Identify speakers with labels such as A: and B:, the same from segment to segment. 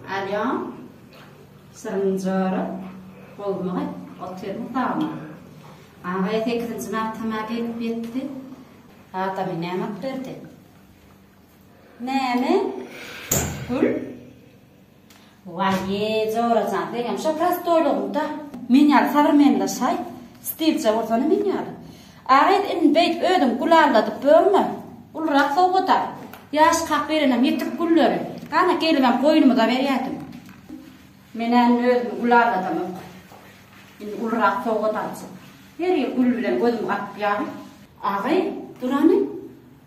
A: Alýan syryň jora Goluma gyt otyryn sagma Agaýa sekizinji magtama gelip ýetdi Adamy näme at berdi Näme Gül Waýýe jora jan seňem şo prostoýlygyňda men ýaly sabrmenlaşaý stilja bolsana men ýaly Agyz indi beýt özüň gül alladyp börme. Ulurak sowgat-a. Ýaş kak berenem ýetik gülleri. Ana gelibem goýnumyza berýädim. Men-ä indi özümi gül alladamok. Indi ulurak sowgat aljak. Her ýyl gül bilen gözüm gapyp ýaly. Agyz, durany.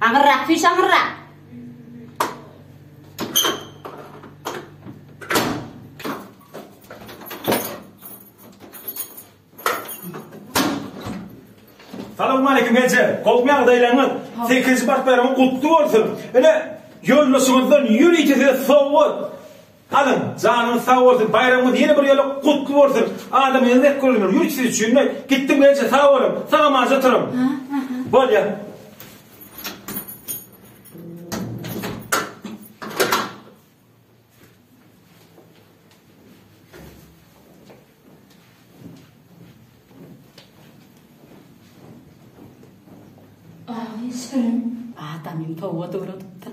A: Aňyrrak süýş aňyrrak. Salamaleýkim eje. Gowmy ýagdaýlaryňyz? Sekizinji bartlaryň gutly bolsun. Ine, ýoldaşyňyzdan ýörite size sowgat. Alyň, janyňyz sag bolsun, baýramyňyz ýene bir ýola gutly bolsun, adamyňyzy dek görüňler, ýürik siz üçin-de, gitdim gelinçe sag boluň, sag-amança oturyň. Bolýar. Aýy, sürüm. Adamym towada uladypdyr.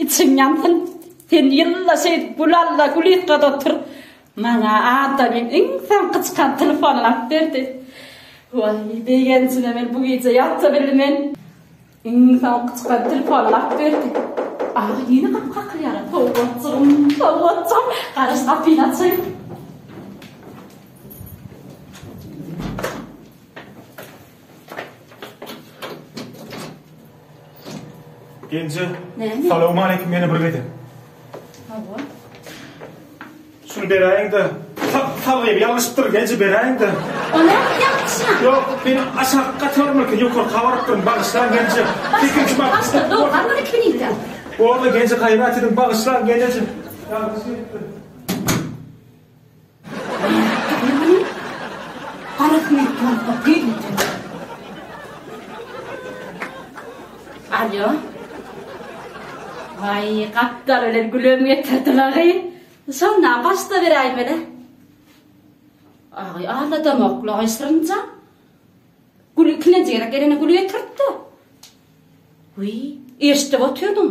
A: Içiň ýansyn. Sen ýylla şeýdip gül alda, gül ýykgada otur. Maňa adamym iň soňky çykan telefonyny alyp berdi. Waý, begenjine men bu gije ýata bilmen. Iň soňky çykan telefonyny alyp berdi. Aha, ýene gapy kakylýar. Sowgatjygym, sowgatjygym, garaş gapyny açaýyn. Genje. Näme? Salam aleyküm ýene bir gezek. Hawa. Şunu beräýiň-de. Salgy ýalňyşypdyr, genje beräýiň-de. Oňa ýalňyşma. Ýok, men aşak gatarmyka, ýokary gabarypdyryn, bagyşlaň genje. Ikinji bak. Başda dur, gabar iki minitde. Boldy, genje gaýrat ediň, bagyşlaň genje. Ýalňyş edipdirin. Alýo. Aý, gapdal bilen gülem getirdiler-aý. Şonda başda beräýmeli. Aý, aladamakla aýsyrynja. Gül ikinji ýere gelene gül getirdi. Uý, eşdip otyrdym.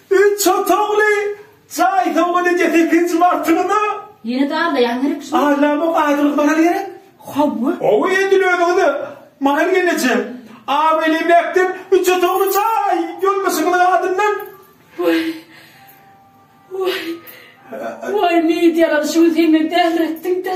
A: Üç otagly jaý sowgat edýär sekizinji martyňda. Ýene de aglaýaň gerek şuny. Aglamok aýdylyk maral gerek. Hawa. Hawa edil özüňize maral geneje. Abraýly emläkden üç otagly jaý ýoldaşyňyzyň adyndan. Waý. Waý. Waý meýit ýalan şu gün sen meni dälretdiň-dä.